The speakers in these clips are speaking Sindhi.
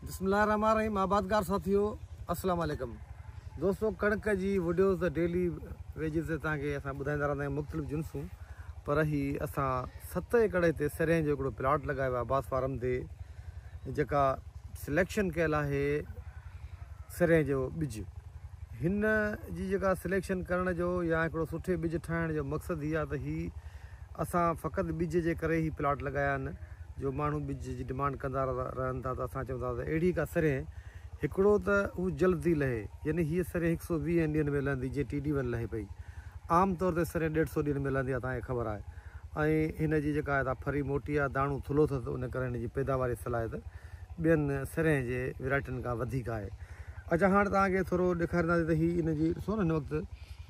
بسم الله الرحمٰن الرحيم آبادگار ساٿيو السلام عليڪم دوستو ڪڻڪ جي وڊيوز ته ڊيلي ويجز تي توهان کي اسان ٻڌائيندا رهندا آهيون مختلف جنسون پر هي اسان ست ايڪڙ هتي سرين جو هڪڙو پلاٽ لڳايو آهي باس فارم تي جيڪا سليڪشن ڪيل آهي سرين جو ٻج هن جي جيڪا سليڪشن ڪرڻ جو يا هڪڙو سٺي ٻج ٺاهڻ جو مقصد هي آهي ته هي اسان فقط ٻج جي ڪري هي پلاٽ لڳايا آهن جو ماڻهو ٻج جي ڊمانڊ ڪندا رهن ٿا ته اسان چئون ٿا ته اهڙي ڪا سرهين هڪڙو ته هو جلد ٿي لهي يعني هيء سرهين هڪ سئو ويهن ڏينهن ۾ لهندي جيئن ٽي ڊي ون لهي پئي عام طور تي سرهين ڏيڍ سئو ڏينهن ۾ لهندي آهي توهان کي خبر آهي ۽ هن جي جيڪا آهي ڦري موٽي آهي داڻو ٿلهو اٿس ته ان ڪري هن جي پيداواري صلاحيت ٻين سرهين جي ويرائٽين کان وڌيڪ آهي اچا هاڻ توهان کي ٿورو ڏيکارينداسين ته هي ان جي ڏسو نه هن وقت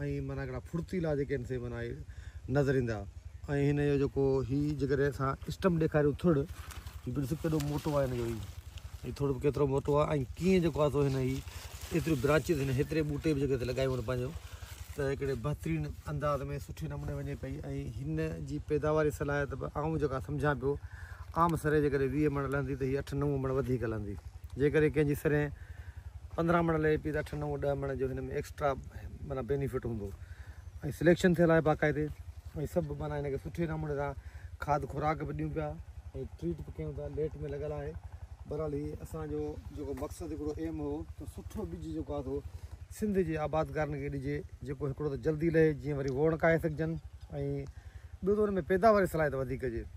۽ معنيٰ هڪڙا ڦڙتيلا جيڪي هن سي معنيٰ نظر ايندا ۽ هن جو جيڪو هي جيڪڏهن اسان اسٽم ڏيکاريون ٿڙ هي به ڏسو ڪيڏو موٽو آهي هن جو هي هي ٿڙ به ڪيترو موٽو آهي ۽ ڪيئن جيڪو آهي سو هن هي ايتريون برانچز هن هيتري ٻوٽي به جيڪي لڳايون هن پنهنجو ته هڪڙي بهترين انداز ۾ سٺي نموني وڃي پئي ۽ هن جي پيداواري صلاحيت به آئون جيڪا سمجهان پيو عام سري جيڪڏهن ويهه مڻ لهندي ته هي اٺ نو مڻ وڌيڪ لهندي جيڪڏهن ڪنهن جي سري پندرهن مڻ لهي پئي ته اٺ نو ڏهه مڻ جو هن ۾ ايڪسٽرا معنيٰ بينيفٽ هوندو ۽ سليڪشن ٿيل آهي باقاعدي ۽ سڀ معنيٰ هن کي سٺي نموني سان کاڌ خوراڪ به ڏيون پيا ۽ ٽريٽ به ڪيون ٿا ليٽ ۾ لڳل آهي بهرحال هي اسانجو جيڪو مقصد هڪڙو ايم هو ته سٺو ٻج جيڪو آهي سو سنڌ جي آبادگارن کي ڏجي جيڪو هڪڙو ته جلدي لهي جيئن وري ووڻ ڪاهي سگهجن ۽ ٻيو ته ان ۾ پيداواري صلاحيت وڌيڪ هجي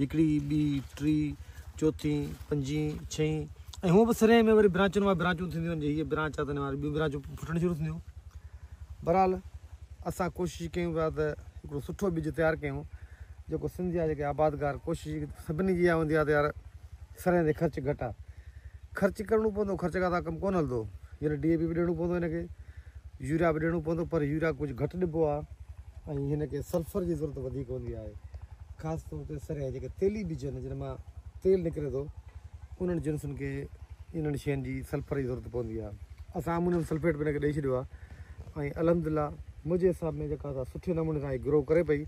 هڪڙي، ٻي، ٽي، چوٿين، پنجين، ڇهين ۽ هونء به سرهين ۾ وري برانچن مان برانچون ٿينديون وڃن، جي هيء برانچ آهي ته هن مان وري ٻيون برانچون ڦٽڻ شروع ٿينديون. بهرحال اسان ڪوشش ڪيون پيا ته هڪڙو سٺو ٻج تيار ڪيون، جيڪو سنڌ جا جيڪي آبادگار ڪوشش سڀني جي اها هوندي آهي ته يار سرهين تي خرچ گهٽ آهي، خرچ ڪرڻو پوندو، خرچ کان سواء ڪم ڪونه هلندو، جڏهن ڊي اي پي به ڏيڻو پوندو هن کي، يوريا به ڏيڻو پوندو پر يوريا ڪجهه گهٽ ڏبو آهي ۽ هن کي سلفر جي ضرورت وڌيڪ هوندي آهي خاص طور تي سرهي جيڪي تيلي ٻج آهن جن مان تيل نڪري ٿو انهن جنسن کي انهن شين جي سلفر جي ضرورت پوندي آهي اسان امونيم سلفيٽ به هن کي ڏئي ڇڏيو آهي ۽ الحمدلله منهنجي حساب ۾ جيڪا اسان سٺي نموني سان گرو ڪري پئي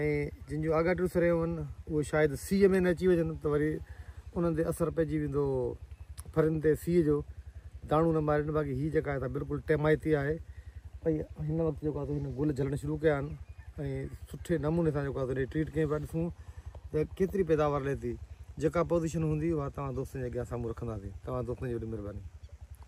۽ جن جون آگاٽيون سرهيون آهن اهي شايد سيء ۾ نه اچي وڃن ته وري انهن تي اثر پئجي ويندو ڦرين تي سيء جو داڻو نه مارين باقي هي جيڪا آهي سا بلڪل ٽيمائتي آهي ۽ هن وقت جيڪو آهي سو هن گل جھلڻ شروع ڪيا آهن ۽ سٺي نموني سان جيڪو آهي سو ٽريٽ ڪيئن پيا ڏسون ته ڪيتري پيداوار لھي ٿي جيڪا پوزيشن هوندي اها توهان دوستن جي اڳيان سامهون رکنداسين توهان دوستن جي وڏي مھرباني